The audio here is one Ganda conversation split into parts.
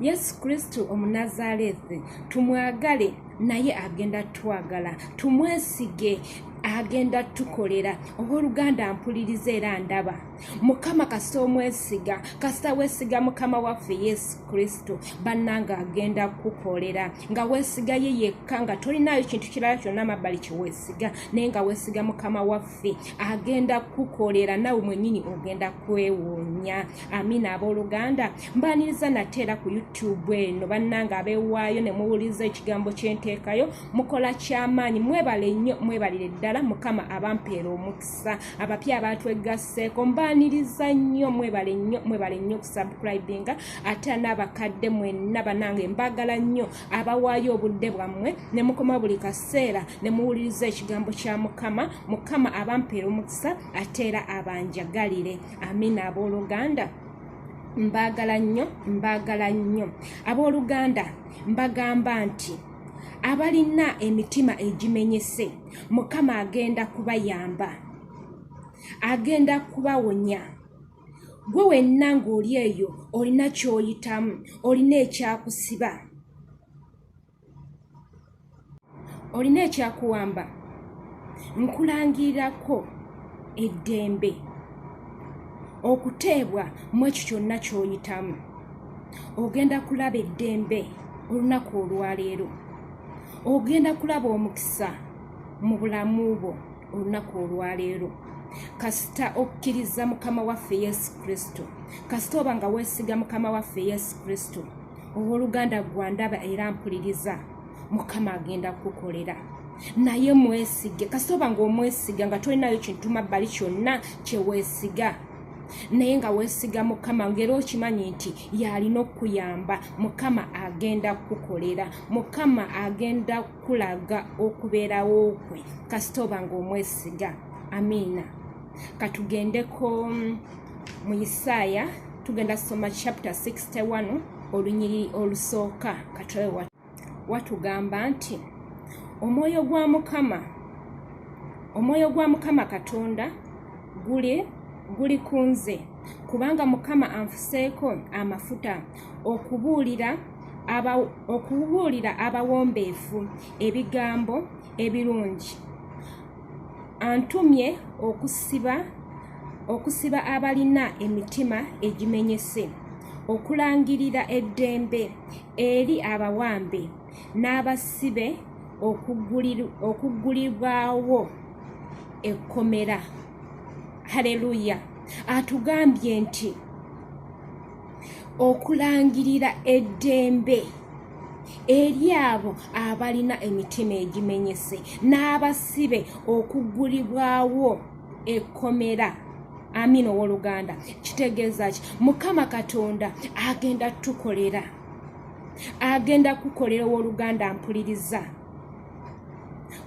yesu kristo omunazalethi tumwagale naye agenda twagala tumwesige agenda tukolera owooluganda mpuliriza era ndaba mukama kasita omwesiga kasita wesiga mukama waffe yesu kristo bannanga agenda kukolera nga wesiga ye yekka nga tolinayo kintu kirala kyonna mabbali kyewesiga naye nga wesiga mukama waffe agenda kukolera nawe mwenyini ogenda kwewuunya amiina abooluganda mbaaniriza nate era ku youtube eno bannanga abeewaayo ne muwuliriza ekigambo ky'enteekayo mukola ky'amaanyi mwebale nnyo mwebalire ddala mukama abampeera omukisa abapya abaatwegasseeko mbaaniriza nnyo mwebale nnyo mwebale nnyo okusubcribinga ate n'abakadde mwenna banange mbaagala nnyo abawaayo obudde bwammwe ne mukoma buli kaseera ne muwuliriza ekigambo kya mukama mukama abampeera omukisa ate era abanjagalire amina abooluganda mbaagala nnyo mbaagala nnyo abooluganda mbagamba nti abalina emitima egimenyese mukama agenda kubayamba agenda kubawonya gwe wenna ng'oli eyo olina ky'oyitamu olina ekyakusiba olina ekyakuwamba nkulangirirako eddembe okuteebwa mu ekyo kyonna ky'oyitamu ogenda kulaba eddembe olunaku olwaleero ogenda kulaba omukisa mu bulamu bwo olunaku olwaleero kasita okkiriza mukama waffe yesu kristo kasita oba nga weesiga mukama waffe yesu kristo owoluganda gwandaba era mpuliriza mukama agenda kukukolera naye mwesige kasitoba nga omwesiga nga tolinayo kintu mabbali kyonna kyewesiga naye nga wesiga mukama ngaera okimanyi nti yalina okukuyamba mukama agenda kukukolera mukama agenda kukulaga okubeerawo kwe kasitoba nga omwesiga amiina katugendeko mm, mu isaaya tugenda soma chapter 61 olunyiriri olusooka katoewa watugamba nti omwoyo gwa mukama omwoyo gwa mukama katonda guli guli ku nze kubanga mukama anfuseeko amafuta okubuulira okubuulira abawombeefu ebigambo ebirungi antumye okusiba okusiba abalina emitima egimenyese okulangirira eddembe eri abawambe n'abasibe okuggulibwawo ekkomera haleluya atugambye nti okulangirira eddembe eri abo abalina emitima egimenyese n'abasibe okuggulibwawo ekkomera amina ow'oluganda kitegeeza ki mukama katonda agenda tukolera agenda kukolera ow'oluganda mpuliriza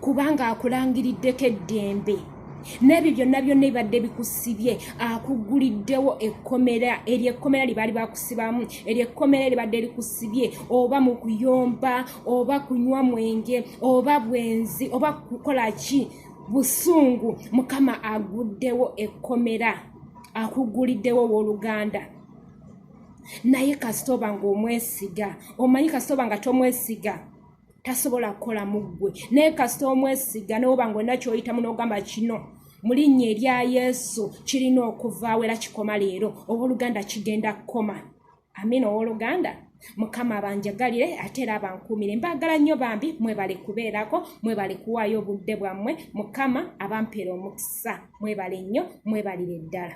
kubanga akulangiriddeko eddembe n'ebyo byonna byonna ebibadde bikusibye akugguliddewo ekkomera eryo ekkomera lye baali bakusibamu eryo ekkomera eribadde likusibye oba mu kuyomba oba kunywa mwenge oba bwenzi oba kukola ki busungu mukama aguddewo ekkomera akugguliddewo owooluganda naye kasitoba ng'omwesiga omanyi kasitoba nga tomwesiga tasobola kukola muggwe naye kasita omwesiga newoba nga olina kyoyitamu nogamba kino mu linnya erya yesu kirina okuvaawo era kikoma leero owooluganda kigenda kukoma amina owooluganda mukama abanjagalire ate era abankuumire mbaagala nnyo bambi mwebale kubeerako mwebale kuwaayo obudde bwammwe mukama abampeera omukisa mwebale nnyo mwebalire ddala